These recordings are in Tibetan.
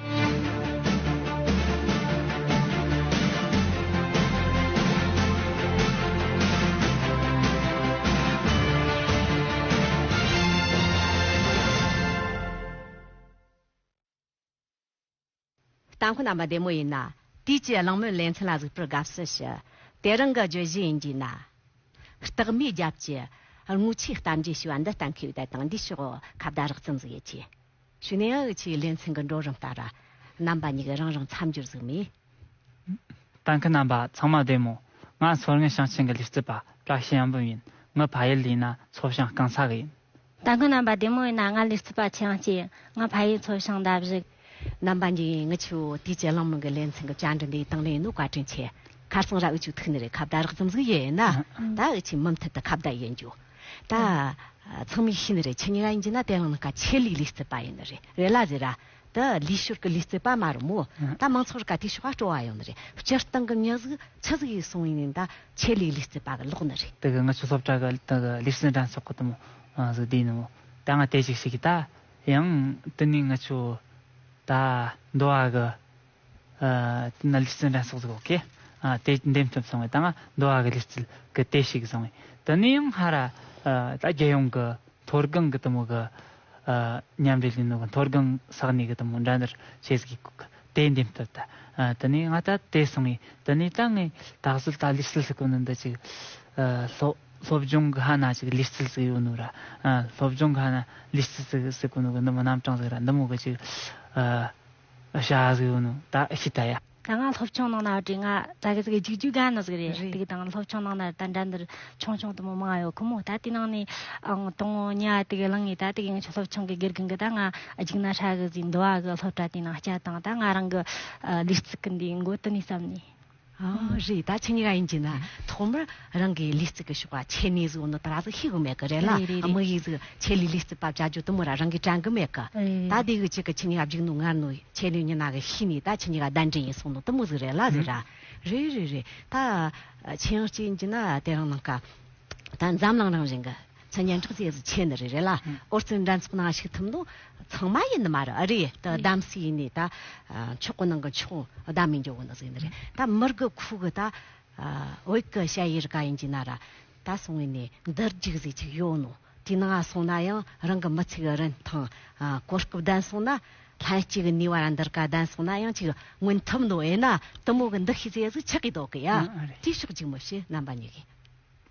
ལྟ་མཁོ་རྣམ་པ་བདེ་མོ་ཡིན་ན། དུས་ཀྱི་གླེང་མོལ་ལེ་ཚན་ལ་གཟིགས་པར་དགའ་བསུ་ཞུ། དེ་རང་གི་བརྗོད་གཞི་ཡིན་གྱི་ན། རྟགས་མའི་རྒྱབ་ཀྱི། རྔུལ་ཆུའི་གཏམ་རྒྱུད་ཞུ་བ་འདི་ལྟ་མཁས་པའི་དད་དང་འདི་ཕྱོགས་ཁ་བརྡ་རགས་ཙམ་ཟིག་ཡོད་ཀྱི། ཞུ་ནས་ཨ་འུ་ཆིའི་ལེ་ཚན་གྱི་འགྲོ་རིམ་ལྟར། རྣམ་པ་གཉིས་ཀྱི་རང་རང་མཚམས་སྦྱོར་གཟུགས་མེད། གཏན་འཁེལ་རྣམ་པ་ཚང་མ་བདེན་མོད། ང་མཚོ་སྔོན་ཞིང་ཆེན་གྱི་ལུས་རྩལ་པ་བཀྲ་ཤིས་ཡོང་འབུམ་ཡིན། ངའི་ཕ་ཡུལ་ཡིན་ན་མཚོ་བྱང་རྐང་ཚ་གི་ཡིན། གཏན་འཁེལ་རྣམ་པ་བདེན་མོ་ཡིན་ན་ང་ལུས་རྩལ་པ་ཆེ་ཡང་སྐྱེས། ངའི་ཕ་ཡུལ་མཚོ་བྱང་འདབ་བཞི། རྣམ་པ་གཉིས་ཡིན་ངའི་ཆུ་བོ་དུས་བཅད་གླིང་མང་གི་ལེ་ཚན་གྱི་བཅར་འདྲི་འདིའི་སྟེང་ལེན་ནུས་བཀའ་དྲིན་ཆེ། ཁར་སང་ར་འུ་ཆུ་ཐུག་ནས་རེད་ཁ་བརྡ་རགས་ཙམ་ཟིག་ཡོད་ཡིན་ན། ད་འུ་ཆིའི་མུ་མཐུད་དུ་ཁ་བརྡ་ཡོད་འགྱུར། ད་ཚང་མིག་ཤེས་ནི་རེད་ཆེ་ཉེ་ག་ཡིན་གྱི་ན་དེ་ལང་ན་ག་ཆེ་ལིག་ལིས་ཙི་པ་ཡིན་ནི་རེད་རེད་ལ་ཟེ་ར་ད་ལིས་ཤོར་གི་ལིས་ཙི་པ་མ་རུ་མོ་ད་མང་ཚོགས་རུ་ག་དུས་ཤོག་ག་སྤྲོ་བ་ཡོང་ནི་རེད་སྤྱིར་བཏང་གི་ཉག་གཟུགས་ཆུ་གཟུགས་ཡིག་སོང་ཡིན་ནི་ད་ཆེ་ལིག་ལིས་ཙི་པ་གི་ལོག་ནི་རེད། ད་གི་ང་ཆུ་སོབ་ཏྲ་གི་ད་གི་ལིས་ཙི་འདྲ་ཆོག་གི་ད་མོ་གཟུགས་དེ་ཡིན་ནི་མོ་ད་ང་དེ་ཅིག་ཤེས་གི་ད་ཡང་དུ་ནི་ང་ཆུ་ད་འདོ་བ་གི། ནལ་གྱི་རྩེ་འགྲན་སོགས་སུ་གོ། དེ་འདེམས་ཐུབ་སོང་བས་ད་ང་འདུ་བ་གི་ལུས་རྩལ་གི་ལྟས་ཤིག་བཟུང་བས་དེ་ནས་ཡང་སྔ་ར་ད་རྒྱལ་ཡོངས་གི་མཐོ་སྒང་གི་དུམ་བུ་གི་མཉམ་འབྲེལ་ལས་ནོར་གི་མཐོ་སྒང་ས་གནས་གི་དུམ་བུ་འགྲན་བསྡུར་བྱེད་སྒོའི་སྐོར་གི་ལྟས་འདེམས་ཐུབ་ད་དེ་ནས་ང་ད་དེ་བཟུང་བས་དེ་ནས་ད་ངས་ད་གཟོད་ད་ལུས་རྩལ་ཞིག་གོ་ནི་འདི་ཅིག་སློབ་སྦྱོང་གི་ཧ་ན་ཅིག་ལུས་རྩལ་ཞིག་ཡོད་ནོ་ར་སློབ་སྦྱོང་གི་ཧ་ན་ལུས་རྩལ་ཞིག་གོ་ནི་གི་འདི་མི་རྣམ་གྲངས་ཟིག་ར་འདི་མོ་གི་ཅིག་ད་ང་སློབ་ཆུང་ནང་ན་བྲེལ་ང་ད་གི་ཟིག་རྒྱུགས་རྒྱུགས་ག་ནི་ཟིག་རེད་ཏིག་ཏང་སློབ་ཆུང་ནང་ན་ད་འདྲ་འདིར་ཆུང་ཆུང་དུ་མོ་མང་ཡོད་ཁུ་མོ་ད་དེ་ནང་ནས་ཨང་དང་ཉི་ཨ་ཏི་གི་གླིང་ངེ་ད་ཏི་གི་ངེ་ཆུ་སློབ་ཆུང་གི་གེར་གིང་གི་ད་ང་རྒྱུགས་ན་ཧྲ་གི་ཟིག་འདུ་བ་གི་སློབ་གྲྭ་དེ་ནང་སྐྱ་དང་ད་ང་རང་གི་ལུས་རྩིག་གི་འདི་མགོ་དི་ནས་བསམ་ནས། རེད་ད་ཆ་ཉི་ག་ཡིན་གྱི་ན་ཐོག་མར་རང་གི་ལི་རྩི་གི་ཤོག་པ་ཆད་ནས་གཟུགས་ནི་ད་ར་ཟིག་ཤེས་གི་མེད་གི་རེད་ལ་དམིགས་ཡིག་ཟིག་ཆད་ལི་ལི་རྩི་བབ་བྱ་རྒྱུ་དུ་མོ་ར་རང་གིས་དྲན་གི་མེད་གི་ད་དེ་གི་ཆེད་གི་ཆི་ཉི་ག་བརྒྱུགས་ནུ་ངར་ནུ་ཆད་ནུ་ཉི་ན་གི་ཤི་ནི་ད་ཆི་ཉི་ག་ཟླ་འདྲེ་ཡིན་གསུངས་ནུ་དུ་མོ་ཟིག་རེད་ལ་ཟིག་ར་རེད་རེད་རེད་ད་ཆེན་ཡང་སྐྱེས་ཡིན་གྱི་ན་དེ་རང་ནང་ཀ་ད་འཛམ་གླང་རང་བཞིན་གི། ཚོ་སྙན་གྲགས་ཅན་ཟིག་ཆེན་ནི་རེད་རེད་ལ་ཨོ་རྩལ་འགྲན་ཚོགས་ནང་ཞིག་ཐུབ་ནོ་ཚང་མ་ཡིན་ནི་མ་རེད་ཨ་རེ་ད་གདམ་སི་ཡིན་ནི་ད་མཆོག་གི་ནང་གི་མཆོག་གདམ་མི་འགྱོ་གི་ནི་ཟིག་ཡིན་ནི་རེད་ད་མི་རྒི་ཁུག་གི་ད་བོད་གི་བཤད་ཡི་རི་ག་ཡིན་གྱི་ན་ར་ད་སོང་ཡིན་ནི་འདི་རྒྱུག་ཟིག་ཅིག་ཡོ་ནོ་དུས་ནང་ང་སོང་ན་ཡང་རང་གི་མི་ཚེ་གི་རིན་ཐང་གོ་སྐབས་ལྡན་སོང་ན་ལྷན་སྐྱེས་གི་ནུས་བ་ར་འདི་རི་ག་ལྡན་སོང་ན་ཡང་ཅིག་མངོན་ཐུབ་ནོ་ཡིན་ན་དུ་མོ་གི་འདི་ཤེས་ཚེ་ཟིག་ཆག་གི་དོག་གི་ཡ་དུས་ཤོག་ཅིག་མི་ཤེས་རྣམ་པ་གཉིས་གི།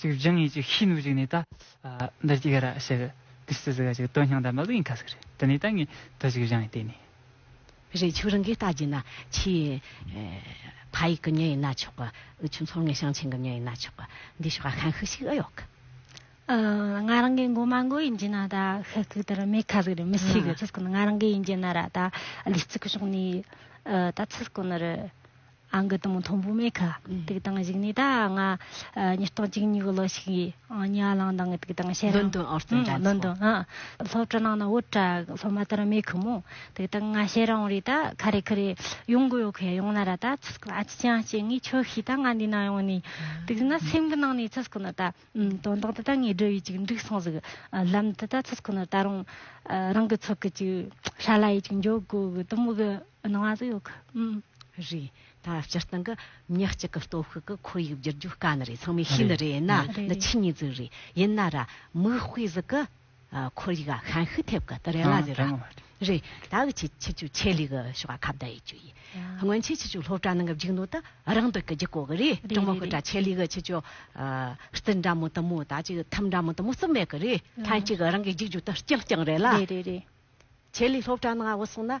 ཅིག་སྦྱང་ཡིན་ཅིག་ཤེས་ནུས་ཅིག་ནས་ད། འདི་ལྟར་ཅིག་ར་ཞེས་པའི་དུས་སུ་ཟིག་ཅིག་དོན་སྙིང་དང་མི་ལུགས་ཡིན་ཁ་ཟིག་རེད་དེ་ནས་ད་ངས་དུ་ཅིག་སྦྱང་ཡིན་ལྟས་ནས། རེད་ཆུ་རིང་གིས་བལྟ་རྒྱུ་ན་ཆུའི། ཕ་ཡིག་གི་མྱི་ཡིན་ན་ཆོག་གི། འུ་ཆུ་མཚོ་ངན་ཞིང་ཆེན་གི་མྱི་ཡིན་ན་ཆོག་གི། འདི་ཞོག་ཧ་ཧན་ཤིག་ཤིག་ཨི་ཡོག་གི། ང་རང་གི་མགོ་མ་མགོ་ཡིན་རྒྱུ་ན་ད་ཤི་ཤིག་དེ་རུ་མེད་ཁ་ཟིག་རེད་མི་ཤེས་གི་ཚུར་སྐུ་ནི་ང་རང་གི་ཡིན་རྒྱུ་ན་ར་ད། ལུས་ཚིག་གི་ཕྱོགས་ནས་ད་ཚུར་སྐུ་ནི་རུ། ཨང་ཀི་དང་མཐོང་བོ་མེད་ཁ་ཐུག་དང་གཞིགས་ནས་ད་ང་ཉིས་སྟོང་གཅིག་ཉིག་ལོ་ཞིག་ཉི་ཨ་ལང་དང་ཐུག་དང་བཤད་རང་ལོན་དོན་ཨོར་ཏོན་དྲ་ལོན་དོན་སློབ་གྲ་ནང་ན་བོད་གྲ་སློབ་མ་དར་མེད་ཁུ་མོ་ཐུག་དང་ང་བཤད་རང་རེད་ད་ཁ་རེ་ཁུ་རེ་ཡོང་གི་ཡོད་ཁོ་ཡོང་ན་ར་ད་ཚུ་སྐུ་ན་ཨ་ཅི་ཅང་བཤད་ངས་ཁྱོ་ཤི་ད་ང་འདི་ན་ཡོང་ནས་ཐུག་ན་སེམས་གི་ནང་ནས་ཚུ་སྐུ་ན་ད་དོན་དག་འདི་ད་ངས་འབྲི་ཡོད་ཅིག་འགྲིག་སོང་ཟིག་ལམ་དུ་ད་ཚུ་སྐུ་ན་ད་རང་རང་གི་ཚུ་གི་ཅིག་ཧྲ་ལ་ཡིད་ཅིག་འཇོག་དགོས་གི་དུམ་གི་སྣང་བ་ཟིག་ཡོད་ཁུ་རེད་ད་སྤྱིར་བཏང་གི་མི་གཅིག་གི་སྟོབས་ཤུགས་ཀྱི་ཁོར་ཡུག་བསྒྱུར་རྒྱུ་དཀའ་ནི་རེད་ཚང་མས་ཤེས་ནི་རེད་ཡིན་ན་འདི་ཕྱི་གཉིས་རྫུན་རེད་ཡིན་ན་ར་མིག་དཔེ་གཟུགས་ཀྱི་ཁོར་ཡུག་ལ་ཤན་ཤུགས་ཐེབས་གི་དི་རེད་ལ་ཟེར་ར་རེད་ད་གི་ཆེ་ཆེ་ཆུ་ཆེ་ལས་གི་ཤོག་ཁ་བརྡ་ཡི་ཆུ་ཡི་སྔོན་ཆེ་ཆེ་ཆུ་སློབ་གྲྭ་ནང་གི་བརྒྱུགས་ནོ་ད་རང་འདི་གི་རྒྱུགས་གོ་གི་རེད་གྲོང་མི་སྐུ་དྲག་ཆེ་ལས་གི་ཆེ་ཆུ་རྟིལ་འདྲ་མོ་དུ་མོ་ད་ཅིག་ཐུམ་འདྲ་མོ་དུ་མོ་རྩིབ་མེད་གི་རེད་ལྷན་ཅིག་རང་གི་རྒྱུགས་རྒྱུགས་དུ་རྐྱང་རྐྱང་རེད་ལ་ཆེ་ལས་སློབ་གྲྭ་ནང་འོ་སོང་ན་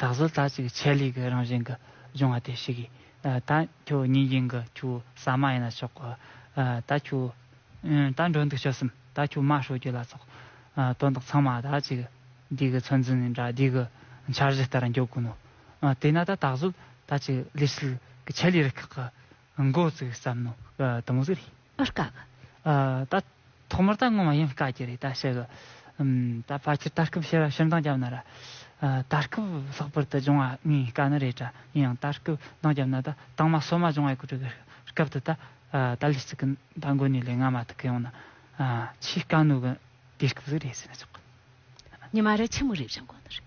ད་གཟོད་ད་ཅིག་ཆད་ལུས་ཀྱི་རང་བཞིན་གྱི་འབྱུང་བ་དེ་ཞིག་ཡིན། ད་ཁྱོད་ཉིན་རྒྱུན་གྱི་ཁྱོའི་ཟ་མ་ཡིན་ན་ཆོག་གོ། ད་ཁྱོད། ད་འགྲོ་འདུག་ཤི་གསུམ་ད་ཁྱོད་མ་ཤོར་རྒྱུ་ལ་ཚོགས། དོན་དག་ཚང་མ་ད་ཅིག་འདི་གི་ཚོད་འཛིན་ནི་དགྲ་བགེགས་ཀྱི་འཆར་གཞི་ལྟར་འགྱུར་དགོས་ནོ། དེས་ན་ད་གཟོད་ད་ཅིག་ལུས་ཞིག་གི་ཆད་ལུས་རིགས་ཁག་གི། མགོ་བཙུགས་བསམ་མནོ་དུ་མ་བཙུགས་རེད། བཀག་གི། ད་ཐོག་མར་ད་སྔོན་མ་ཡང་བཀག་གི་རེད་ད་ཤི་གི། ད་ཕ་ཁྱེར་ད་སྐབས་ཤི་ར་ཤིར་འདང་རྒྱབ་ན་ར། ད་སྐབས་ལྷག་པར་དུ་སྦྱོང་བ་ངའི་བཀའ་ནི་རེད་གྲ་ཡིན་ཡང་ད་སྐབས་འདང་རྒྱབ་ན་ད་དང་མ་སོ་མ་སྦྱོང་བའི་གོ་སྒྲིག་གི་སྐབས་དུ་ད་ད་ལི་ཙི་གི་ད་མགོ་ནས་ལས་སྔ་མ་ཐུག་གི་ཡོང་ན། ཆེས་དཀའ་གནོད་གི་དུས་སྐབས་ཟིག་རེད་ཟེར་ན་ཆོག་གི། ཉི་མ་རེ་ཆེན་མོ་རེ་བཞེངས་དགོས་ནི་རེད།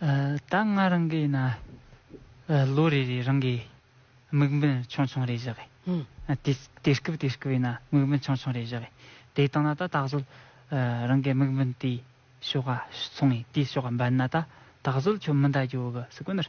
ད་སྔ་རང་གིས་ན་ལོ་རེ་རེ་རང་གིས་དམིགས་འབེན་ཆུང་ཆུང་རེ་བཞག་གིས་དེ་སྐབས་དེ་སྐབས་ཡིན་ན་དམིགས་འབེན་ཆུང་ཆུང་རེ་བཞག་གིས་དེ་བཏང་ན་ད་ད་གཟོད་རང་གི་དམིགས་འབེན་དེའི་ཕྱོགས་ཀ་སོང་ངས་དེའི་ཕྱོགས་ཀ་འབད་ན་ད་ད་གཟོད་ཁྱོད་མི་འདའ་རྒྱུ་གི་སུ་གོ་ནར།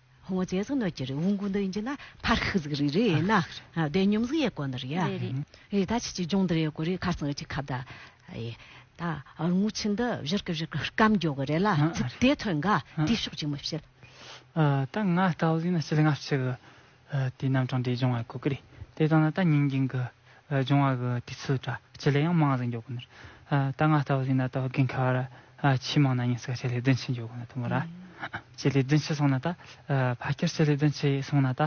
ཧོང་ཅེ་ཟི་ནོ་ཅི་རི་ཧུང་གུང་དུ་འཇི་ན་ཕར་ཤི་ཟིག་རི་རི་ཡེ་ན་བདེ་སྙོམ་ཟིག་ཡེ་གོ་ནི་རི་ཡ་རི་ད་ཆི་ཆི་ཇོང་དུ་རེ་གོ་རི་ཁར་སང་ཆི་ཁ་བདའ་ཡེ་ད་རྔུ་ཆི་འདི་བཞུར་གི་བཞུར་གི་སྐམ་འགྱོ་གི་རེ་ལ་ཚི་དེ་ཐོན་ག་དེ་ཤོག་ཅིག་མི་བྱེད། ད་ང་ལྟ་བུ་ཟིག་ན་སྤྱི་ལ་སྔ་ཕྱི་གི་དེ་རྣམ་གྲངས་དེ་སྦྱོང་བ་གོ་གི་རེ་དེ་དང་ན་ད་ཉིན་རྒྱུན་གི། འབྱུང་བ་གི་དུས་ཚོད་འདྲ་སྤྱི་ལེ་ཡང་མང་ཟིག་འཇོག་གི་འདུག་ད་ང་ལྟ་བུ་ཞིག་ན་ལྟ་བུ་གན་ཁ་བར་ཆེས་མང་ན་ཉིན་ཞིག་ལ་སྤྱི་ལེ་བདུན་ཕྱིན་འཇོག་གི་འདུག་ཐུབ་མོད། སྤྱི་ལེ་བདུན་ཕྱིན་སོང་ན་ད་ཕ་ཁྱེར་སྤྱི་ལེ་བདུན་ཕྱིན་སོང་ན་ད་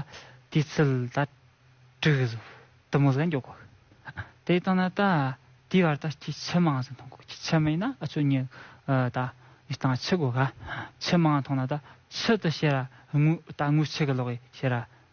དུས་ཚོད་ད་དྲུག་གི་ཟུག་དུ་མོ་ཟིག་ལ་འཇོག་གི། དེ་ལྟ་ན་ད་དུས་བར་ད་ཁྱི་ཆེས་མང་ཟིག་མཐོང་གི་ཁྱི་ཆེས་མིན་ན་ཨ་ཆོས་ཉིད་ད་ཡི་སྟངས་ཆི་དགོས་ག། ཆེས་མང་མཐོང་ན་ད་ཆི་དུ་ཤེས་ར་དངུལ་ད་དངུལ་ཆི་གི་ལོག་གི་ཤེས་ར།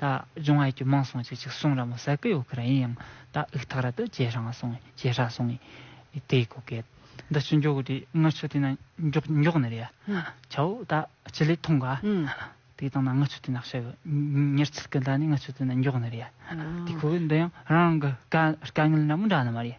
ད་གཞུང་ཨ་ཀྱི་མིང་སྲུང་བྱེད་ཅིག་སྲུང་ར་མོ་ཟ་ཀི་ཡོད་ཁི་ར་ཡིན་ཡང་ད་ཨིག་ཐག་ར་དུ་ཇེ་ཧྲང་སྲུང་ཇེ་ཧྲ་སྲུང་ཡིན་དེ་ཡི་གོ་སྐད་འདི་ཕྱི་འགྱོག་གི་དེ་ངི་ཆུ་དེ་ན་འགྱོག་འགྱོག་ནི་རེད་ཡ་ཆའོ་ད་སྤྱི་ལེ་ཐུང་ག་དེ་དང་ན་ངི་ཆུ་དེ་ན་ཤི་གི་མྱུར་ཚིལ་གི་ད་ནི་ངི་ཆུ་དེ་ན་འགྱོག་ནི་རེད་ཡ་དེ་ཁོ་གི་འདི་ཡང་རང་གི་དཀའ་དཀའ་ངལ་འདྲ་མོ་འདྲ་ནི་མ་རེད།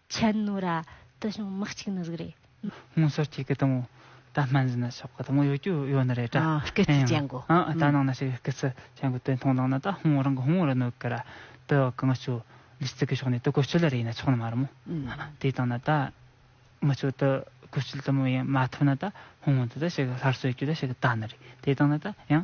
ཆད་ནོ་ར། དེ་བྱུང་མི་གཅིག་ནི་གཟུགས་རེད། སྔོན་སོར་ཁྱེད་ཀྱི་དང་བོ། ད་སྨན་ཟིན་ན་ཆོག་གི་དང་བོ་ཡོད་རྒྱུ་ཡོད་ནི་རེད་དྲ། སྐེ་རྩི་བྱེད་འགོ། ད་ནང་ན་ཞིག་སྐེ་རྩི་བྱེད་འགོ་དེ་མཐོང་ལགས་ན་ད་ཧོང་རང་གི་ཧོང་རུ་ནོར་གི་ར། དེ་བ་གང་བྱོ། ལིས་ཙི་གི་ཕྱོགས་ནས་དེ་གོ་ཆོད་ལ་རེ་ཡིན་ན་ཆོག་ནི་མ་རེད་མོ། དེ་དང་ན་ད། མི་ཆོ་དེ་གོ་ཆོད་དུ་མོ་ཡིན་མ་ཐུབ་ན་ད་ཧོང་དེ་ད་ཞིག་སླར་གསོད་རྒྱུ་ད་ཞིག་ད་ནི་རེད་དེ་དང་ན་ད་ཡང།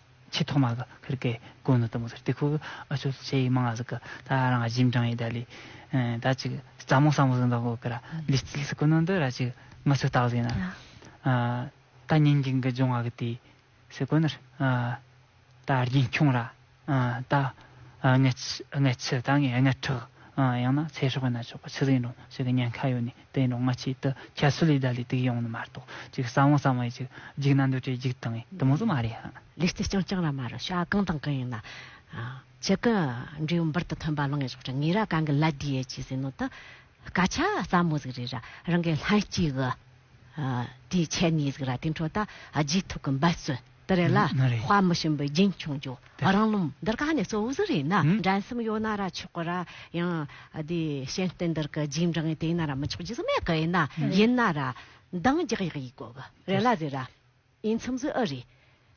ཆེས་ཐོག་མ་གི་ཁིར་ཀའི་དགོན་ནི་དུམ་བུ་ཟེར་དེ་ཁོ་གི་ཨ་ཆོ་ལི་ཆེ་ཡིག་མང་ང་ཟིག་གི་ད་རང་གཞིས་འབྲང་ཡི་དཱ་ལི་ད་ཅིག་རྩ་མོ་ས་མོ་ཟིག་འདོག་གོ་ཀི་ར་ལི་རྩིལ་ཟིག་གི་ནང་དུ་ར་ཅིག་ང་ཚོས་བརྟག་ཟིན་ན་ད་ཉིན་གྱི་གི་ཇོང་ང་གི་དེའི་ཟིག་གོ་ནི་ར་ད་རྒྱན་ཁྱུང་ར་ད་ངའི་ཆུ་ད་ངའི་ཁྲག་ཡང་ན་ཚེ་སྲོག་གི་ན་ཆོག་གི་ཆུ་ཟིག་འགྲོ་ཞིག་གི་ཉེན་ཁ་ཡོད་ནི། དེ་ནི་སྔ་ཕྱི་དུ་ཁྱད་གསོད་ལས་བརྡ་ལས་དུག་ཡོང་ནི་མ་གཏོགས་གཅིག་གསང་བ་གསང་བ་ཡིན་ཅིག་འཇིག་ན་འདོད་བྲལ་འཇིག་དང་ཡིན་དུ་མོ་བཟོ་མ་རེད་ཧ། ལུས་རྩེ་རྐྱང་རྐྱང་ར་མ་རུ་ཤ་གང་དང་གང་ཡིན་ན། ཁྱི་གི་འབྲས་བུ་འབུར་དུ་ཐོན་པ་ལང་གའི་ཕྱོགས་ཀྱི་ངེས་ར་གང་གི་ལ་དེ་ཡས་ཀྱིས་ཟིན་ནོ་ད། སྐ་ཆ་ཟ་མོ་ཟིག་རེད་ར་རང་གའི་ལྷན་སྐྱེས་གི། དེའི་ཁྱད་ནུས་ཟིག་ར་དེ་འཕྲོ་ད། རྗེས་ཐོབ་གི་འབད་བརྩོན། འདི་རེད་ལ་དཔའ་མི་ཞུམ་པའི་རྒྱུན་ཆུང་རྒྱུ་རང་རློམ་འདིར་ག་ནས་གཙོ་བོ་ཟིག་རེད་ན་འགྲན་བསམ་ཡོད་ན་ར་ཆོག་གི་ར་ཡང་དེ་ཤེས་ལྡན་འདིར་གི་རྒྱུན་འབྲང་དེ་ཡིན་ན་ར་མི་ཆོག་རྒྱུ་ཟིག་མེད་གི་ཡིན་ན་ཡིན་ན་ར་འདང་རྒྱག་ཡག་ཡིན་དགོས་གི་རེད་ལ་ཟིག་ར་ཡིན་མཚམས་ཟིག་ཨི་རེད་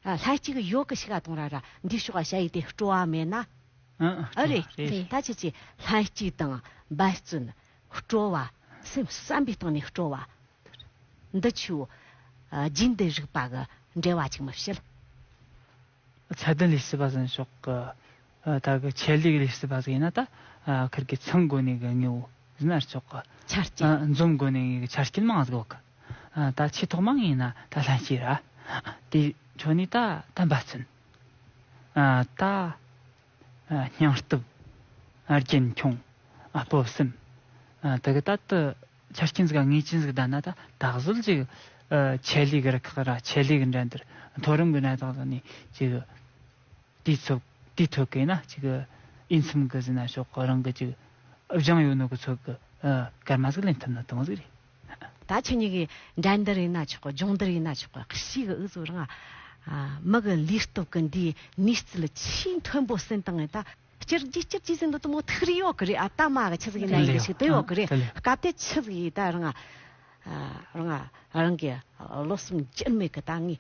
ལྷ་གཅིག་ཡོད་གི་ཤི་ག་དང་ར་ར་འདི་ཤོག་ཨ་ཤ་ཡི་དེ་སྤྲོ་བ་མེད་ན་ཨི་རེད་ད་ཁྱེད་ཀྱིས་ལྷ་གཅིག་དང་འབད་བརྩོན་སྤྲོ་བ་སེམས་བསམ་པའི་སྟེང་ནས་སྤྲོ་བ་འདི་ཆུའོ། རྒྱུད་འདི་རིགས་པ་གི་འགྲེལ་བ་ཅིག་མི་བྱེད། ཚད་ལྡན་ལས་བྱེད་པ་ཟིན་ཤོག་གི། ད་གི་ཆད་ལུས་ལས་བྱེད་པ་ཟིག་ཡིན་ན་ད། ཁིར་གི་ཚང་དགོན་ནས་གི་ངེ་བོ་ཟིན་ཨར་ཆོག་གི། ཆ་རྐྱེན། འཛོམ་དགོན་ནས་ངེ་གི་ཆ་རྐྱེན་མང་ཟིག་བོ་གི། ད་ཆེས་ཐོག་མང་ཡིན་ན་ད་ལྷན་སྐྱེས་ར། དེ་ཆོ་ནས་ད་ད་འབའ་ཚུན། ད། སྙིང་སྟོབས་རྒྱུན་འཁྱོངས་སྤོབས་སེམས་དེ་ག་ད་དུ་ཆ་རྐྱེན་གཟུགས་ཀ་ངེས་ཅན་ཟིག་ལྡན་ན་ད་ད་གཟོད་ཅིག་ཆད་ལུས་རུ་ཁག་ར་ཆད་ལུས་གི་འགྲན་བསྡུར་མཐོ་རིམ་གི་གནས་སྟངས་བཟུང་ནས་ཅིག་དུས་ཚོད་དུས་ཐོས་གས་ན་ཅིག་དབྱེ་མཚམས་གི་ཟིན་ན་ཤོག་རང་གི་ཅིག་བཞེངས་ཡོད་ནོ་གི་ཚོད་གི་སྐར་མ་ཟིག་ལེན་ཐུབ་ན་དང་ཟིག་རེད། ད་ཁྱེད་གཉིས་ཀྱི་འགྲན་འདིར་ཡིན་ན་ཆོག་གོ་འབྱུང་འདིར་ཡིན་ན་ཆོག་གོ་གཤིས་ཀྱི་འུ་ཚོ་རང་མི་གི་ལུས་སྟོབས་ཀྱི་འདིའི་ནུས་རྩལ་ཆེས་མཐོན་པོ་ཟིན་བཏང་ངེ་ད། སྤྱིར་རྒྱུ་སྤྱིར་རྒྱུ་ཟིན་འདི་ལྟ་མོ་ཐུགས་རེ་ཡོད་ཀྱི་རེད་ཨ་སྟག་མ་གི་ཁྱི་ཟིག་ཡིན་ན་ཡིན་གྱི་ཞིག་དེ་ཡོད་ཀྱི་རེད་སྐབས་དེ་ཁྱི་ཟིག་ཡིས་ད་རང་རང་རང་གི་ལོ་གསུམ་སྐྱེར་མེད་ཀྱི་ད་ངས་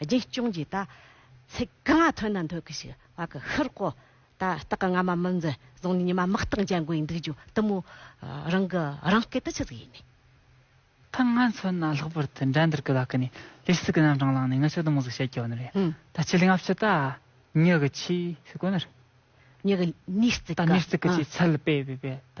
རྒྱུན་སྐྱོང་གྱིས་ད་ཚིག་གང་ཐོན་ན་འཐོན་གྱི་ཞིག་བ་གི་ཧིར་གོ། ད་སྟག་གི་རྔ་མ་མི་འཛི་བཟུང་ནས་ཉི་མ་དམག་རྟགས་འཇལ་དགོས་འདུག་ཇོ་དུ་མོ་རང་གི་རང་སྐད་དུ་ཆི་ཟིག་ཡིན། ད་ང་ཚོ་ན་ལྷག་པར་དུ་འགྲན་བསྡུར་གི་ལག་ཀི་ནས་ལས་སུ་གི་རྣམ་གྲངས་བླངས་ནས་ངི་ཆོ་དུ་མོ་ཟིག་བྱེད་དགོས་ནི་རེད། ད་ཆི་ལིང་ཨབ་ཆི་ད་ཉི་གི་ཆི་ཟིག་གོ་ནི་རེད། ཉི་གི་ནི་ཟིག་གི། ད་ནི་ཟིག་གི་ཆི་ཚལ་སྤེ་བི་བེད་ད་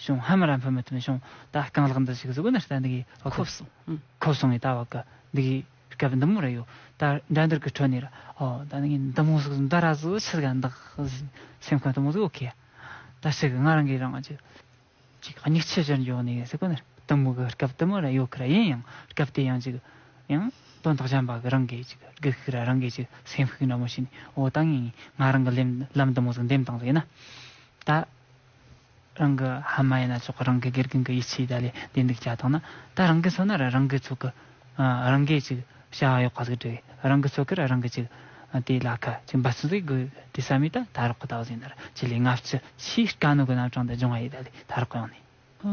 བྱུང་ཧ་མ་ར་འཕུལ་མི་ཐུབ་བྱུང་ད་རྐང་ལག་འདི་ཞིག་གཟུགས་ན་ལྟ་འདི་གི་བ་ཁོབ་སོང་ཁོབ་སོང་ངས་ད་བ་གི་འདི་གི་སྐབས་འདི་མོ་ར་ཡོ་ད་འགྲན་འདུར་གི་ཁྲོད་ནས་ར་ཨོ་ད་འདི་གི་འདི་མོ་གཟུགས་འདི་ར་གཟུགས་ཆི་ག་འདི་སེམས་ཁོང་དུ་མོ་གཟུགས་ཨོ་ཁེ་ད་ཤི་གི་ང་རང་གི་རང་གི་ཅིག་སྙིགས་ཆུ་ཕྱིར་འཇོག་ནས་གཟུགས་ན་ལྟ་མོ་གི་སྐབས་དུ་མོ་ར་ཡོ་གི་ར་ཡིན་ཡང་སྐབས་དེ་ཡང་ཅིག་ཡང་དོན་དག་བྱམས་པ་གི་རང་གི་ཅིག་སྒུག་ཤིག་ར་རང་གི་ཅིག་སེམས་ཤིག་འདྲ་མོ་བྱས་ནས་ཨོ་ད་ངས་ངས་ང་རང་གི་ལམ་དུ་མོ་གཟུགས་འདེམས་སྟངས་ཟེར་ན་ད་རང་གི་ཧ་མ་ཡིན་ན་ཅོག་རང་གི་དགེ་རྒན་གྱི་ཡིད་ཆེས་ད་ལས་བདེ་འདུག་བྱ་ཐོག་ན་ད་རང་གི་ཚོ་ནར་རང་གི་ཚོ་གི་རང་གི་ཅིག་བྱ་བ་ཡོག་ག་ཟིག་འགྲིག་རང་གི་ཚོ་གིར་རང་གི་ཅིག་དེ་ལ་ཁ་ཅིག་འབའ་ཚོ་ཟིག་དགོས་དེ་ས་མི་ད་ད་རོག་གི་ད་བཟིན་ནར་ཆེ་ལས་ལྔ་བཅུ་ཕྱིའི་དཀའ་གནོད་གི་རྣམ་གྲངས་འདི་འབྱུང་བ་ཡིན་ད་ལས་ད་རོག་གི་ཡོང་ནས།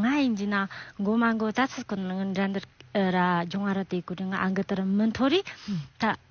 ང་ཡིན་གྱི་ན་འགོ་མ་འགོ་ད་ཚོ་གི་འགྲན་འདི་ར་འབྱུང་བ་ར་དེ་གུ་རི་ང་འགི་དི་རི་མི་མཐོ་རིས་ད།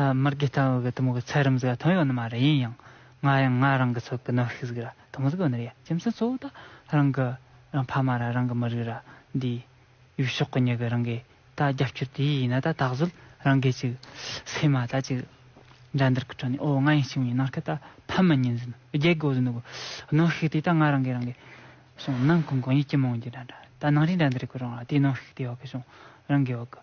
མར་གི་སྟེང་འོག་གི་དུམ་བུ་ཚད་རིམ་གཟུགས་ཐུང་ཡོད་ནི་མ་རེད་ཡིན་ཡང་ང་ཡང་ང་རང་གི་ཚོད་ཀྱི་གནོད་ཤུགས་གཟུགས་ཐུང་གཟུགས་ཡོད་ནི་རེད་རྒྱུ་མཚན་གཙོ་བོ་ད་རང་གི་རང་ཕ་མ་ར་རང་གི་མི་རིགས་ར་འདིའི་ཡུལ་ཕྱོགས་ཀྱི་མྱི་གི་རང་གི་ད་རྒྱབ་སྐྱོར་དེ་ཡིན་ན་ད་ད་གཟོད་རང་གི་ཅིག་སེ་མ་ད་ཅིག་འགྲན་འདར་གི་ཁྲོད་ནས་ཨོ་ང་ཡིན་ཞིང་མྱི་ནར་ཁི་ད་ཕ་མི་གཉིས་འཛིན་རྒྱལ་གི་བཟོ་འདུག་གི་གནོད་ཤུགས་དེ་ད་ང་རང་གི་རང་གི་བྱུང་ནང་གི་མགོ་མྱི་སྐྱི་མོང་གྱི་འགྲན་འདར་ད་ནང་རིའི་འགྲན་འདར་གྱི་རང་ར་དེའི་གནོད་ཤུགས་དེ་འོག་གི་བྱུང་རང་གི་འོག་གི།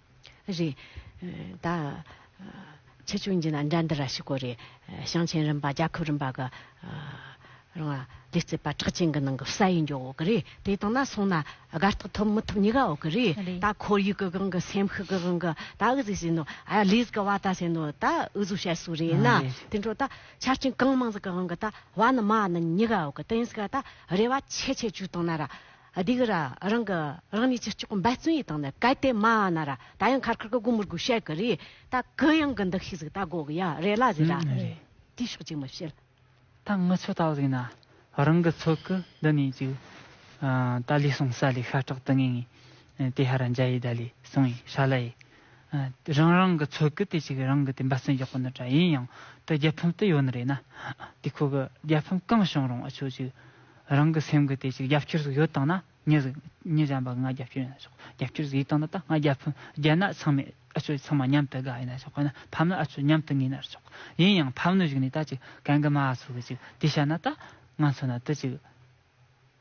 རེད་ད། ཆེ་ཆུང་གཉིས་ལ་འགྲན་བསྡུར་ར་ཞིག་གོ་རེ། ཞིང་ཆེན་རིམ་པ་རྒྱལ་ཁབ་རིམ་པ་གི། རང་སྡེ་རྩེ་པ་གྲགས་ཅན་གྱི་ནང་གི་གསལ་ཡིག་འཇོག་འོག་གི་རེད་དེ་དང་ན་སོང་ན་དགའ་རྟགས་ཐོབ་མི་ཐོབ་གཉིས་ཀ་འོག་གི་རེད་ད་ཁོར་ཡུག་གི་སྒང་གི་སེམས་ཤུགས་ཀྱི་སྒང་གི་ད་འུ་ཚིགས་ཟེར་ནོ་ཨ་ལིས་ཀྱི་བ་ད་ཟེར་ནོ་ད་འུ་ཟུག་བཤད་སུ་རེད་ན་དེ་འཕྲོ་ད་ཆ་རྐྱེན་གང་མང་ཟིག་གི་སྒང་གི་ད་བ་ནི་མ་ནི་གཉིས་ཀ་འོག་གི་དེ་ཡིན་ཟིག་ག་ད་རེ་བ་ཆེ་ཆེ་བྱུས་དང་ན་ར། སྡིག་ར་རང་གི་རང་ཉིད་ཀྱི་སྐྱོགས་འབའ་བརྩོན་ཡི་དང་ནི་གལ་ཏེ་མ་ཨ་ན་ར་ད་ཡང་ཁར་ཁར་གི་གུ་མུར་གུ་ཤལ་གི་རི་ད་གུ་ཡང་གི་འདི་ཤིག་ཟིག་ད་དགོ་གི་ཡ་རེ་ལ་ཟིག་ར་རེ་དེའི་ཕྱོགས་ཅིག་མི་བྱེད། ད་ངུ་ཚོད་ད་ཟིག་ན་རང་གི་ཚོད་གི་འདི་ནས་ཅིག་ད་ལི་སོང་ས་ལི་ཤ་ཁྲག་དི་ངེ་ངེ་དེ་ཧ་ར་འཇའ་ཡི་ད་ལི་སོང་ཡི་ཤ་ལ་ཡི་རང་རང་གི་ཚོད་གི་དེ་ཅིག་རང་གི་དེ་འབའ་བརྩོན་རྒྱག་གི་ནི་དྲ་ཡིན་ཡང་དེ་རྒྱལ་ཕམ་དི་ཡོད་ནི་རེད་ན་དེ་ཁོ་གི་རྒྱལ་ཕམ་གང་བྱུང་རུང་ཨ་ཆོ་ཅིག་རང་གི་སེམས་ཀྱི་དེ་ཅིག་རྒྱབ་སྐྱོར་ཟིག་ཡོད་བཏང་ན་ཉིད་ཟིག་ཉིད་གཞན་པ་ང་རྒྱབ་སྐྱོར་ཡིན་ན་ཆོག་རྒྱབ་སྐྱོར་ཟིག་ཡིད་བཏང་ན་ད་ང་རྒྱབ་ཕུན་རྒྱལ་ནག་ཚང་མས་ཨ་ཚོས་ཚང་མ་མཉམ་དུ་དགའ་ཡིན་ན་ཆོག་དཔེར་ན་ཕམ་ན་ཨ་ཚོས་མཉམ་དུ་ངེས་ན་ཆོག་ཡིན་ཡང་ཕམ་ནོ་ཞིག་ནས་ད་ཅིག་གན་གི་མ་ཨ་ཚོ་གི་ཅིག་དེ་བྱས་ན་ད་ང་ཚོ་ན་དེ་ཅིག་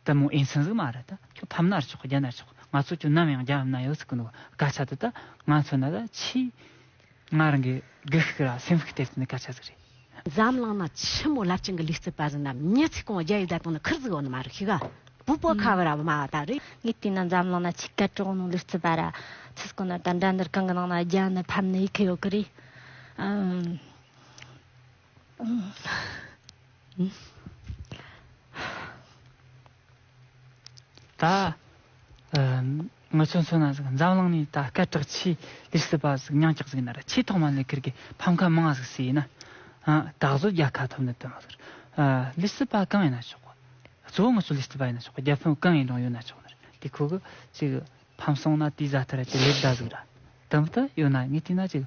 དེ་མོ་ཨེ་ཟིན་ཟིག་མ་རེད་ད་ཁྱོད་ཕམ་ན་ཆོག་རྒྱལ་ན་ཆོག་ང་ཚོ་ཁྱོད་ནམ་ཡང་རྒྱབ་ན་ཡོད་ཟིག་གི་འདུག་སྐད་ཆ་དེ་ད་ང་ཚོ་ན་ད་ཆེས། ང་རང་གིས་སྒུལ་ཤུགས་ལ་སེམས་ཤུགས་སྟེར་ཚུལ་འདི་ག་ཆགས་ཚུལ་རེད། འཛམ་གླིང་ན་ཆེན་མོ་རླབས་ཆེན་གྱི་ལུས་རྩལ་པ་ཟེར་ན་མྱི་ཚེ་གང་རྒྱལ་ཡུལ་བདག་དང་ནི་ཁུར་བཙུགས་འོག་ནི་མ་རིག་ཤིག། བུ་སྤོ་ཁ་བ་ར་བ་མ་བ་ད་རེད། ངས་བལྟས་ན་འཛམ་གླིང་ན་ཆིག་ཁ་གྲངས་ནང་ལུས་རྩལ་པ་ར་ཚེ་སྐོ་ན་དང་འདྲ་འདུར་གང་གི་ནང་ན་རྒྱ་ནི་ཕམ་ནི་ཡི་གེ་ཡོད་གི་རེད། ད་ངོས་ཚོ་མཚོན་ན་ཟིག་འཛམ་གླིང་ནས་ད་སྐད་གྲགས་ཆེས་ལེགས་སྲིད་པ་ཟིག་ཉང་ཀྱག་ཟིག་ཡིན་ན་ཆེས་ཐོག་མ་ལས་ཁིར་གི་ཕམ་ཁ་མང་ཟིག་སྲིད་ཡིན་ན་ད་གཟོད་རྒྱ་ཁ་ཐོབ་འདོད་དོན་མ་ཟིག་ལེགས་སྲིད་པ་གང་ཡིན་ན་ཆོག་གཙོ་བོ་ངོས་ཚོ་ལེགས་སྲིད་པ་ཡིན་ན་ཆོག་རྒྱ་ཕོན་གང་ཡིན་རུང་ཡོད་ན་ཆོག་ཟིག་དེ་ཁོ་གི་ཅིག་ཕམ་སོང་ན་དེའི་བཟའ་ཐུ་ར་ཅིག་ལེགས་གདའ་ཟིག་ར་དམ་དུ་ཡོད་ན་ངས་བལྟས་ན་ཅིག།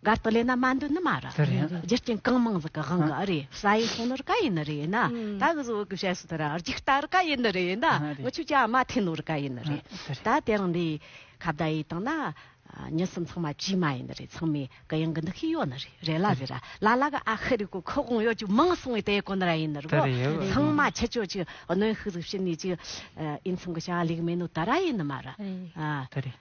སྒར་དུ་ལས་ན་མ་འདུག་ནི་མ་རེད། རྒྱུ་རྐྱེན་གང་མང་ཟིག་གི་དབང་གིས་རེད། ས་ཡི་ཁོངས་ནོར་ག་ཡིན་ནི་རེད་ན། ད་གི་བཟོ་བོ་གི་བཤད་སྲོལ་ལྟར་ར་རྒྱུག་རྟ་རི་ག་ཡིན་ནི་རེད་ན། ངུ་ཆོས་ཀྱི་མ་ཐེ་ནོར་ག་ཡིན་ནི་རེད། ད་དེ་རིང་འདི་ཁ་བརྡ་ཡིས་བཏང་ན། ཉི་སྲིན་ཚང་མ་བྱིས་མ་ཡིན་ནི་རེད་ཚང་མས་གི་ཡང་གི་འདི་ཤི་ཡོད་ནི་རེད་རེད་ལ་ཟེར་ར་ལ་ལ་གི་ཨ་ཤི་རི་ཀོ་ཁུ་དབང་ཡོད་ཅུག་མང་སོང་བའི་དེ་གོ་ནི་ར་ཡིན་ནི་རེད་གོ། ཚང་མ་ཆི་ཆོས་ཀྱི་གནོན་ཤུགས་ཟིག་ཕྱིན་ནས་ཅིག། ཨིན་ཚང་གི་བྱ་བ་ལེགས་མིན་ནོ་ད་ར་ཡིན་ནི་མ་རེད།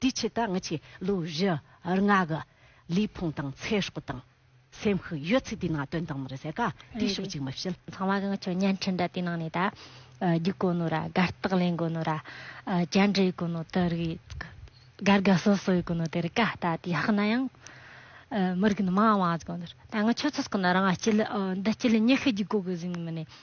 དེའི་ཆེད་དུ་ངེད་ཀྱིས་ལོ་བཞི་ལྔ་གི་ལུས་ཕུང་དང་ཚེ་སྲོག་དང་སེམས་ཤུགས་ཡོད་ཚད་དེའི་ནང་བཏོན་དང་མི་རེད་ཟེར་ག་དེའི་ཕྱོགས་གཅིག་མ་བྱེད། ཚང་མ་གི་ངེད་ཚོས་བརྙན་འཕྲིན་འདྲ་དེའི་ནང་ནས་ད་རྒྱུག་དགོས་ནོ་ར་དགའ་རྟགས་ལེན་དགོས་ནོ་ར་བཅར་འདྲི་དགོས་ནོ་དེ་རིགས་དགའ་དགའ་སོ་སོ་ཡོད་དགོས་ནོ་དེ་རིགས་ག་ད་དེ་ཡག་ན་ཡང་མི་རིགས་ནི་མང་བ་བཟོ་དགོས་ནོ་ར་ད་ངེད་ཁྱོད་ཚོ་སོགས་ཀྱི་ནི་རང་འདི་སྤྱི་ལ་ཉེ་ཤུ་རྒྱུག་དགོས་དགོས་ཟེར་ནི་མི་ནི།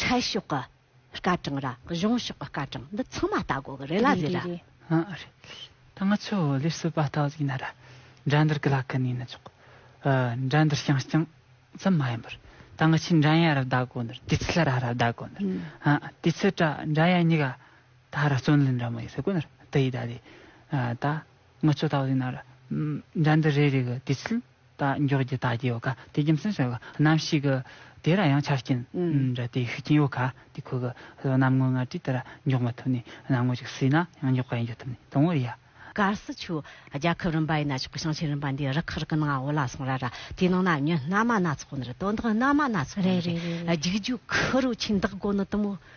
ཁྲལ་ཕྱོགས་ཀྱི་སྐར་གྲངས་ར་གཞུང་ཕྱོགས་ཀྱི་སྐར་གྲངས་འདི་ཚང་མ་ལྟ་དགོས་ཀྱི་རེད་ལ་རེད་ར། ཧ་རེད། ད་ང་ཚོས་ལས་བསོད་པ་རྟགས་ཡིན་ན་ར་འདྲ་འདིར་གི་ལ་ཀི་ནས་ཡིན་ན་ཆོག་གི། འདྲ་འདིར་བྱང་རྐྱང་ཙམ་མ་ཡིན་པར་ད་ང་ཆིས་འདྲ་ཡ་ར་བཟླ་དགོས་ནི་དུས་ཚིགས་ལ་ར་ར་བཟླ་དགོས་ནི་དུས་ཚིགས་ཏྲ་འདྲ་ཡ་གཉིས་ཀ་ད་ར་བརྩོན་ལེན་འདྲ་མོ་ཡོད་ས་དགོས་ནི་ར་དི་ཡིས་ད་དེ་ད་ང་ཚོས་རྟགས་ཡིན་ན་ར་འདྲ་འདི་རེ་རེ་གི་དུས་ཚིགས། རྟ་མགྱོགས་ཀྱི་རྟགས་ཀྱི་ཡོ་ག་དེ་རྒྱུ་མཚན་སོགས་རྣམ་ཤེས་ཀྱི་དེ་ར་ཡང་ཆ་རྐྱེན་འདྲ་དེ་ཤུགས་རྐྱེན་ཡོ་ག་དེ་ཁོ་གི་རྣམ་ངོ་ལྔ་ཀྲི་དེ་ར་མགྱོགས་མ་ཐུབ་ནས་རྣམ་ངོ་གཅིག་སྲིད་ན་ཡང་མགྱོགས་པ་ཡིན་རྒྱུ་ཐུབ་ནས་དང་བོ་ཡ། གར་སི་ཆུ། རྒྱལ་ཁབ་རིམ་པ་ཡི་ན་ཆོག་གི་ཞིང་ཆེན་རིམ་པ་འདིའི་རི་ཁག་རི་ཀི་ནང་འོ་ལ་སོང་ར་ར་དེའི་ནང་ན་ཉོན་སྣ་མ་སྣ་ཚོགས་ནི་རེད་དོ་བདག་སྣ་མ་སྣ་ཚོགས་ནི་རེད་རྒྱུག་རྒྱུག་ཁུ་རུ་ཆིན་བདག་དགོ་ནི་དུ་མོ།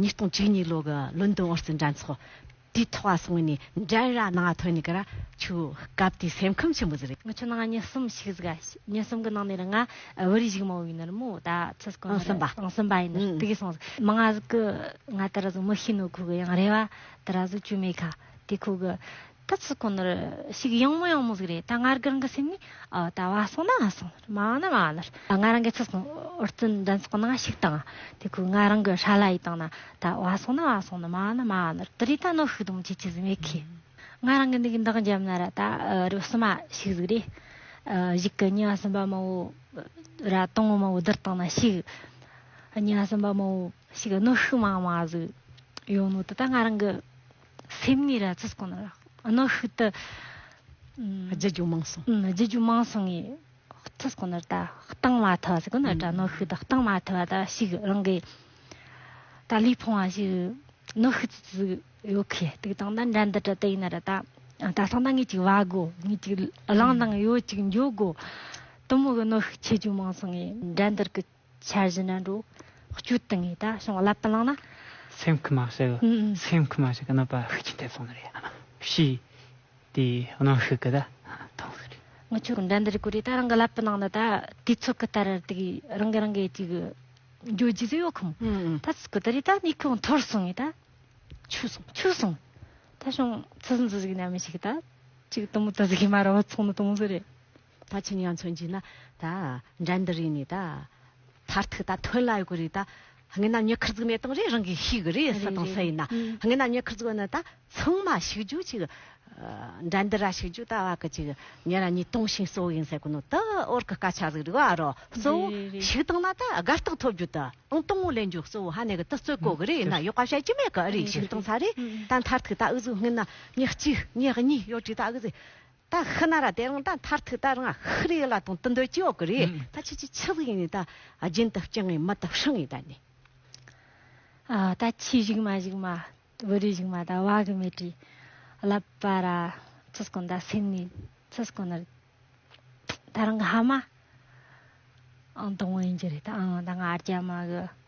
ཉིས་སྟོང་བཅུ་གཉིས་ལོ་གི་ལོན་ཏོན་ཨོ་རྩི་འདྲ་མཚོ་དུས་ཐོག་བ་སོང་ནས་འགྲན་ར་ནང་ཐོན་ནས་ཀ་ར་ཆུ་སྐབས་དེ་སེམས་ཁམས་ཆེན་པོ་ཟེར། ང་ཆུ་ནང་ཉིན་གསུམ་ཞིག་ཟིག་ཉིན་གསུམ་གི་ནང་ནས་རང་ང་བོད་རིགས་ཞིག་མང་བོ་ཡིན་ནར་མོ་ད་ཚོད་སྐོར་ཨང་གསུམ་པ་ཨང་གསུམ་པ་ཡིན་ནར་དེ་གས་སོང་ཟིག་མང་ང་ཟིག་གི་ང་ད་ར་ཟིག་མི་ཤི་ནུ་ཁུག་གི་ཡང་རེ་བ་ད་ར་ཟིག་ཆུ་མེད་ཁ་དེ་ཁུག་གི། ད་ཚིག་ཁོ་ནར་ཞིག་གཡེང་མོ་གཡེང་མོ་ཟིག་རེད་ད་ང་རྒན་གི་སེམས་ནས་ད་བ་སོང་ན་བ་སོང་མ་བ་ན་མ་བ་ལར་ད་ང་རང་གི་ཚིག་སོང་ཨོ་རྩི་འདྲན་ཚོགས་ནང་ཞིག་དང་དེ་ཁོས་ང་རང་གི་ཧྲ་ལ་ཡིས་དང་ན་ད་བ་སོང་ན་བ་སོང་མ་བ་ན་མ་བ་ལར་དུ་རི་ད་ནོ་ཤུག་དུམ་ཆེ་ཆེ་ཟིག་མེད་ཁི། ང་རང་གི་འདི་གི་འདག་འཇམ་ན་ར་ད་རུ་བསུ་མ་ཤིག་ཟིག་རེད་གཞིག་གི་གཉའ་སུམ་པ་མོ་བོ་ར་དང་བོ་མོ་བོ་དིར་དང་ན་ཤིག་གཉའ་སུམ་པ་མོ་བོ་ཤིག་གི་ནོ་ཤུག་མང་མང་ཟིག་ཡོང་ནོ་དུ་ད་ང་རང་གི། སེམས་ནི་ར་ཚོད་གང་ལ་གནོད་ཤུགས་དུ། རྒྱུ་རྒྱུ་མང་སོང། རྒྱུ་རྒྱུ་མང་སོང་ངས་ཚོད་གང་ལ་ད་གཏང་མ་ཐུབ་ཟེར་གོ་ན་དྲ་གནོད་ཤུགས་ད་གཏང་མ་ཐུབ་པ་ད་ཞིག་རང་གི། ད་ལུས་ཕོང་བ་ཞིག་གནོད་ཤུགས་ཙི་ཙི་ཡོད་ཁི་ཏིག་གཏང་ད་འདྲ་འདི་དྲ་དེ་ཡིན་ན་ར་ད་ད་གཏང་ད་ངས་ཅིག་བ་དགོ་ངས་ཅིག་གླང་དང་ཡོ་ཅིག་འཇོ་དགོ་དུ་མོ་གི་གནོད་ཤུགས་ཆེ་རྒྱུ་མང་སོང་ངས་འདྲ་འདི་གི། འཆར་གཞི་ནི་འགྲོ་སྐྱོད་དུ་ངེས་ད་བྱུང་བསླབ་པ་བླངས་ན། སེམས་ཁུར་མ་བྱས་ཀྱི་སེམས་ཁུར་མ་བྱས་ཀྱི་གནོད་པ་ཤུགས་ཆེན་ཐེབས་སོང་ནི་རེད། ཞེས་དེའི་གནོན་ཤུགས་ཀྱི་མཐོང་ཚུལ་རེད། ངི་ཆོ་འགྲན་ཟླར་གོ་རེ་ད་རང་གི་བསླབ་པ་ནང་ན་ད་དུས་ཚོད་ཀྱི་ལྟར་དེ་གི་རང་གི་རང་གི་ཅིག་འགྱོད་རྒྱུ་ཟིག་ཡོད་ཁོམ་ད་ཚུགས་ཀྱི་ད་རེ་ད་གནས་ཁུག་འཐོར་སོང་ངི་ད་ཆུ་སོང་ཆུ་སོང་ད་བྱུང་ཚུལ་འཛུ་ཟིག་ནམ་ཞིག་ད་ཅིག་དུམ་བུ་དུ་ཟིག་མ་རོ་བ་ཚོང་ནི་དུམ་བུ་རེད། ད་ཕྱིན་ཡང་མཚོན་གྱིས་ན། ད་འགྲན་འདི་རིགས་ནས་ད། མཐར་ཐུག་ད་ཐོན་ལ་ཡོད་གི་རེད་ད། དངོས་གནས་ཉེ་ཁར་གཟུགས་གནས་སྟངས་རེ་རང་གིས་ཤེས་གི་རེད་ས་དང་ས་ཡིན་ན། དངོས་གནས་ཉེ་ཁར་གཟུགས་གནས་ད་ཚང་མ་ཞིག་རྒྱུ་ཅིག། འགྲན་འདི་ར་ཞིག་རྒྱུ་ད་བ་གི་ཅིག་ཉེ་ར་གཉིས་སྟོང་ཤིང་གསོ་བོ་ཡིན་ས་གོ་ནོ་ད་ཨོར་གི་སྐ་ཆག་ཟིག་རིག་བ་རོ་གསོ་བོ་ཞིག་བཏང་ན་ད་དགའ་རྟགས་ཐོབ་རྒྱུ་ད་ཨང་སྟོང་བོ་ལེན་རྒྱུ་གསོ་བོ་ཧ་ནས་གི་ད་རྩོད་གོ་གི་རེད་ཡིན་ན་ཡོག་པ་བཤད་ཀྱི་མེད་གི་རེད་ཞིག་བཏང་ས་རེད་ད་མཐར་ཐུག་ད་ཨུ་གཟུགས་དངོས་གནས་ཉེ་གཅིག་ཉེ་གཉིས་ཡོད་གི་ད་གི་ཟིག། ད་ཧི་ན་ར་དེ་རང་ད་མཐར་ཐུག་ད་རང་ཧི་རི་ཡི་ལ་དང་དུ་འདོད་ཀྱི་ཡོད་གི་རེད་ད་ཁྱེད་ཀྱི་ཆི་ལིག་ནི་ད་རྒྱུན་དུ་སྐྱེ་ངེས་མི་ད་ཧྲི་ངེས་ད་ནི། ད་ཁྱི་བཞུགས་མ་བཞུགས་མ་བུ་རུ་བཞུགས་མ་ད་བ་གི་མེ་དྲི་བརླབ་པ་ར་ཚུ་སྐོན་ད་སེམས་ནི་ཚུ་སྐོན་ནི་ད་རང་གི་ཧ་མ་ཨང་དང་བོ་ཡིན་གྱི་རེད་ད་ཨང་ད་ང་རྒྱ་མ་གི་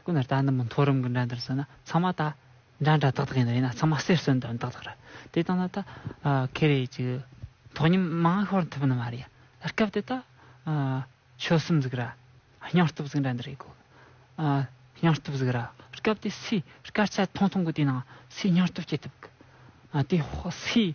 སྐུ་ན་རྟ་ནི་མི་མཐོ་རིམ་གྱི་འདྲ་འདྲ་ཟེར་ན་ཚང་མ་ད་འདྲ་འདྲ་ཏག་ཏག་ཡིན་ནོ་ཡིན་ན་ཚང་མ་གསེར་སོན་ཏག་ཏག་རེད་དེ་ལྟ་ན་ད་ཁེ་རེ་ཀྱི་ཐོག་ཉིན་མང་ཤོར་ཐུབ་ནི་མ་རེད་སྐབས་དེ་ད་ཆོལ་གསུམ་ཟིག་ར་སྙིང་སྟོབས་ཟིག་འདྲ་འདྲ་རེད་དགོས་སྙིང་སྟོབས་ཟིག་ར་སྐབས་དེ་སུས་སྐར་ཆ་ཐུང་ཐུང་གི་དེ་ནང་སུས་སྙིང་སྟོབས་སྐྱེ་ཐུབ་དགོས་དེ་སུས་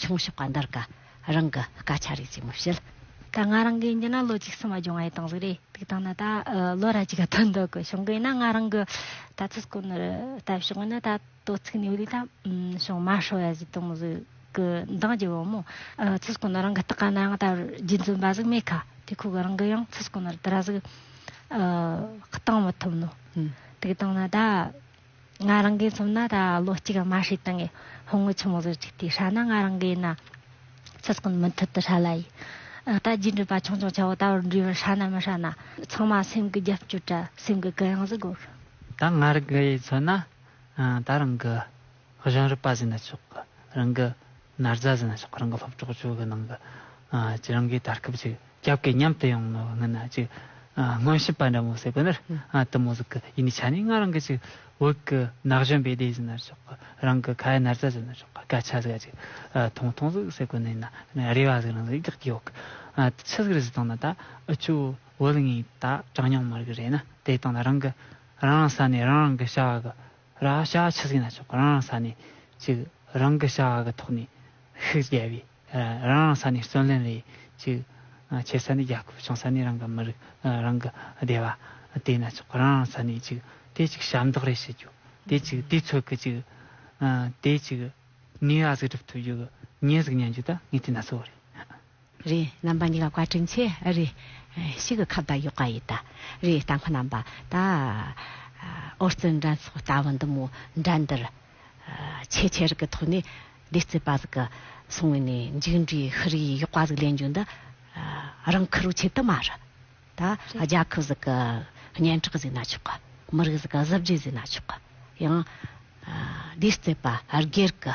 ཆུང་ཕྱོགས་ཀ་འདར་ཀ་རང་གི་སྐད་ཆ་རིགས་གཅིག་མི་བཤད། ད་ང་རང་གིས་འདི་ན་ལོ་གཅིག་སུ་མ་སྦྱོང་བ་ཡི་དང་ཟིག་རེད་དུག་དང་ན་ད་ལོ་ར་གཅིག་ག་ཐོན་འདུག་གི་བྱུང་གི་ཡིན་ན་ང་རང་གི་ད་ཚིག་སྐོར་ནི་ལྟ་བྱུང་གི་ནི་ད་དོ་ཚིག་ནི་ལུས་དང་བྱུང་དམའ་ཧྲོ་ཡ་ཟིག་དང་ཟིག་གི་འདང་རྒྱུ་བོ་མོ། ཚིག་སྐོར་ནི་རང་གི་སྟག་ག་ན་ཡང་ད་བར་རྗེ་བཙུན་པ་ཟིག་མེད་ཁ་དུས་ཁོ་གི་རང་གི་ཡང་ཚིག་སྐོར་ནི་དེ་ར་ཟིག་གཏང་མི་ཐུབ་ནོ་དུག་དང་ན་ད། ང་རང་གིས་མཚོན་ན་ད་ལོ་གཅིག་དམའ་ཧྲི་དང་ཡི་ཧོང་ངོས་ཆུ་མོ་ཟོར་གཅིག་དེའི་ཧྲ་ན་ང་རང་གིས་ན་ཚོད་སྐོན་མུ་མཐུད་དུ་ཧྲ་ལ་ཡི། ད་རྒྱུས་འབྲུས་པ་ཆུང་ཆུང་ཆ་བོ་ད་བར་འབྲུས་པར་ཧྲ་ན་མི་ཧྲ་ན་ཚང་མ་སེམས་གི་རྒྱབ་སྐྱོར་དྲ་སེམས་གི་གུ་ཡངས་སུ་སྒོར། ད་ང་རང་གིས་མཚོན་ན་ད་རང་གི་གཞུང་རིག་པ་ཟིན་ན་ཆོག་གི་རང་གི། ན་རྫ་ཟེར་ན་ཆོག་གི་རང་གི་སློབ་གྲོགས་ཚོའི་གི་ནང་གི་ཅི་རང་གིས་ད་སྐབས་ཅིག་རྒྱབ་ཀྱི་མཉམ་དུ་ཡོང་ནོ་ངན་ན་ཅིག་སྔོན་ཞིབ་པ་འདྲ་མོ་ཟེར་གི་ནི་དུ་མོ་ཟེར་གི་ཡིན་ནི་ཆ་ནས་ང་རང་གི་ཅིག་བོད་ཀྱི་ནག་གཞོན་པའི་སྡེ་ཟེར་ན་ཆོག་གི་རང་གི་ཁ་ཡ་ན་རྫ་ཟེར་ན་ཆོག་གི་སྐད་ཆ་ཟེར་ག་ཅིག་ཐུང་ཐུང་ཟིག་ཟེར་གི་ནི་ན་རེ་བ་ཟིག་རང་ཟིག་རྒྱག་གི་ཡོད་གི་ཆི་ཟིག་རེ་ཟིག་བཏང་ན་ད་ཁྱོད་བོད་ངའི་ད་གྲངས་མྱོང་མ་རིག་རེད་ན་དེ་བཏང་ན་རང་གི་རང་རང་ས་ནས་རང་རང་གི་བྱ་བ་གི་ར་ཤ་ཆུ་སྲིན་ལ་ཕྱོགས་པ་རང་རང་ས་ནས་ཅིག་རང་གི་བྱ་བ་གི་ཐོག་ནས་ཤུགས་རྒྱལ་བས་རང་རང་ས་ནས་བརྩོན་ལེན་ལས་ཅིག་ཆེ་ས་ནས་རྒྱལ་ཁབ་ཆུང་ས་ནས་རང་གི་མི་རིགས་རང་གི་སྡེ་བ་དེ་ན་ཆོག་རང་རང་ས་ནས་ཅིག་དེ་ཅིག་ཞབས་འདེགས་རེ་ཞུ་རྒྱུ་དེ་ཅིག་དུས་ཚོད་གི་ཅིག་དེ་ཅིག་ནུས་བ་གཟིགས་གྲུབ་ཐུབ་རྒྱུ་གི་ཉེས་གཟིགས་ཉན་རྒྱུ་ད་ངས་དེ་ན་གཙོ་བོ་རེད། རེ། རྣམ་པ་གཉིས་ཀ་བཀའ་དྲིན་ཆེ། རེ། ཤི་གི་ཁབ་དང་ཡོག་ག་ཡི་ད། རེ། རྟ་མཁོ་རྣམ་པ་ད། ཨོ་རྩལ་འགྲན་ཚོགས་ལྟ་བུ་འདི་མོ་འགྲན་འདིར། ཆེས་ཆེར་གི་ཐོག་ནས་བདེ་རྩེ་པ་ཟིག་གི་སོང་བས་ནས་མཇུག་འབྲས་ཤི་རི་ཡི་ཡོག་པ་ཟིག་ལེན་རྒྱུ་འདི། རང་ཁུ་རུ་ཆེ་དུ་མ་རུ། ད། རྒྱ་ཁུབ་ཟིག་གི་སྙན་གྲགས་ཟིག་ན་ཆོག་གི། མི་རིགས་ཟིག་གི་གཟི་བརྗིད་ཟིག་ན་ཆོག་གི། ཡང། བདེ་རྩེ་པ་སྒེར་གི།